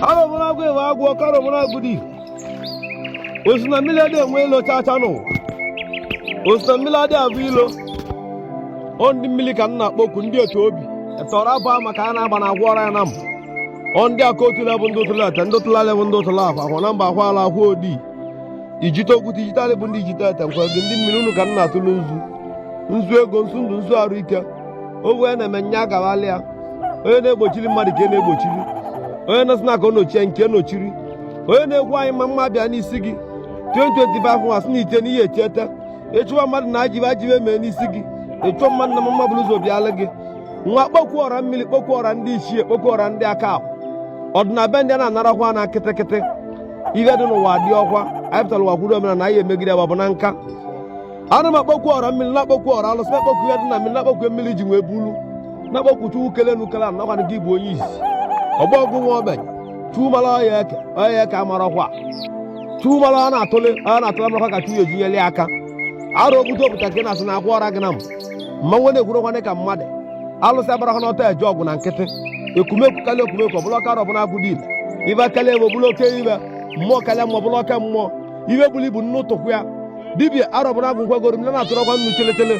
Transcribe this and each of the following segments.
arọbụnagụ ihe agwụ ọka arọbụnagụ dị ile osi na mmiri adị enwe ilo chacha n'ụwa osi na mmiri adị abụ ilo ọ ndị mmiri ka m na-akpọku ndị otu obi etọrọ abụ maka a na-agba na agwọ ọra ya na m ọ ndị aka otu na-abụ ndị ụtụla ete ndị ụtụla lebụ ndị ụtụla akwa akwa na mba akwa ala akwa odi ijite okwute ijite alị bụ ndị ijite ete nkwa gị ndị mmiri unu ka m na-atụlụ nzu nzu ego nzu ndụ nzu arụ ike o wee na-eme nya agawala ya onye na-egbochiri mmadụ ka e na-egbochiri onye na-asị na ka ọ nochie nke nochiri onye na-ekwu anyị mma mma bịa n'isi gị 2025 nwa sị na iche n'ihe echeta ị chọwa mmadụ na ajọ ihe ajọ ihe mee n'isi gị ị chọọ mmadụ na mma mma buru ụzọ bịala gị nwa kpọkwuo ọra mmiri kpọkwuo ọra ndị ichie kpọkwuo ọra ndị aka ahụ ọdịna be ndị a na-anarakwa na kịtịkịtị ihe dị n'ụwa dị ọkwa anyị pụtara ụwa kwudo omenala anyị emegide ya bụ na nka ana m akpọkwu ọra mmiri na-akpọkwu ọra alụsị na-akpọkwu ihe dị na mmiri na-akpọkwu mmiri ji wee bulu na-akpọkwu chukwu kele enu kele ana ọkwa na gị bụ onye isi ogbo ọgụ nwa ogbenye chukwu mara ọya eke ọya eke amarakwa chukwu mara ọ na-atụle ọ na-atụle marakwa ka chukwu ejinyeli ya aka arọ obute obuta nke na-asị na akwa ọra gị na m mmanwụ na-ekwurọkwanụ ka mmadụ alụsị abarakwa n'ọta eje ọgụ na nkịtị ekumekwu karịa ekumekwu ọ bụrụ ọka arọbụnagụ dị ile ihe karịa ihe ọ bụrụ oke ihe mmụọ karịa mmụọ ọ bụrụ oke mmụọ ihe buru ibu nnu ụtụkwu ya dibịa arọbụnagụ gwagoro m na-atụrọkwa nnu cheletele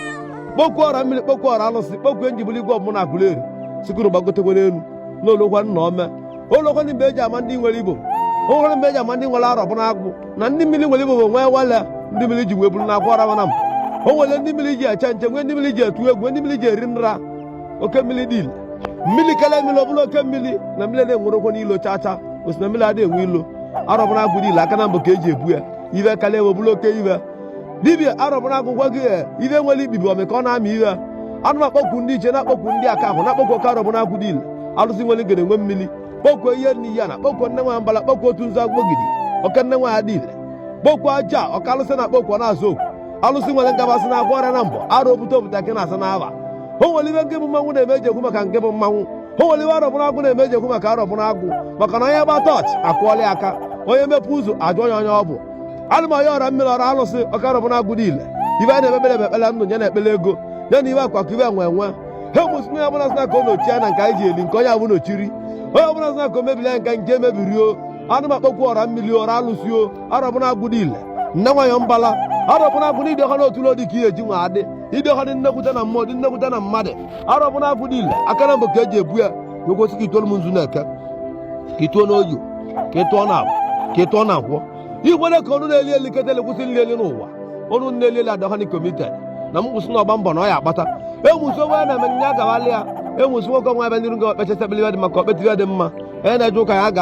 kpokwu ọra mmiri kpokwu ọra alụsị kpokwu enjibụl igwe ọbụla Agụleri sikụrụ gbagotekwere elu na o lukwa na ome o lukwanụ mgbe eji ama ndị nwere ibobo o nwere mgbe eji ama ndị nwere arọbụnagụ na ndị mmiri nwere ibobo nwekwale ndị mmiri ji wee bụrụ na agwụ ọra mana m o nwere ndị mmiri ji eche nche nwee ndị mmiri ji etu egwu nwee ndị mmiri ji eri nra oke mmiri dị ile mmiri karịa mmiri ọ bụrụ oke mmiri na mmiri na-enwerọkwanụ ilo chacha osi na mmiri adịghị enwe ilo arọbụnagụ dị ile aka nabọ ka eji ebu ya ihe karịa ihe ọ bụrụ oke ihe dibịa arọbụnagụ gwa gị ihe nwere ibibi ọmị ka ọ na-amị ihe ana m akpọkwu ndị ichie na-akpọkwu ndị aka ahụ na-akpọkwu oke arọbụnagụ dị ile alụsị nwere ngene nwe mmiri kpọkwu ihe n'iyi na kpọkwu nne nwa mbala kpọkwu otu nzu agbọgidi oke nne nwanyị dị ile kpọkwu aja oke alụsị na kpọkwu na-azụ oke alụsị nwere ngabasị na-agwọ ọrịa na mbọ arọ obute obuta nke na-asa n'aba o nwere ihe nke bụ mmanwụ na-eme eji ekwu maka nke bụ mmanwụ o nwere ihe arọbụnagụ na-eme eji ekwu maka arọbụnagụ maka na onye gba tọọchị akwọọla ya aka onye mepụ ụzọ ajụọ ya onye ọ bụ ana m ayọ ọra mmiri ọra alụsị ọka arọbụnagụ dị ile ihe a na-ekpere bụ ekpere ndụ ya na ekpere ego ya na ihe akụ akụ ihe enwe enwe ha mụ sị onye ọbụla sị na ka o nochie anya nke anyị ji eli nke onye ahụ nochiri onye ọbụla sị na ka o mebiri anyị nke nke mebiri o ana m akpọkwu ọra mmiri ọra alụsị o arọbụnagụ dị ile nne nwanyị mbala arọbụnagụ dị ọha n'otu ụlọ dị ka ihe eji nwa adị ịdị ọha dị nnekwute na mmụọ dị nnekwute na mmadụ Arọbụnagụ dị ile aka naabọ ka eji ebu ya na ogosi ka ịtụọlụ m nzu na eke ka ịtụọ n'oye ka ịtụọ na afọ ka ịtụọ na nkwọ ikwere ka ọnụ na-eli eli ketele kwụsị nli eli n'ụwa ọnụ na-eli eli adọha n'ikomited na m kwụsị na ọgba mbọ na ọ ya akpata enwusi onwe ya na eme nye agawala ya enwusi nwoke nwa ebe n'iru gị o kpechasị ekpele ihe dị mma ka o kpete ihe dị mma onye na-eje ụka ya ga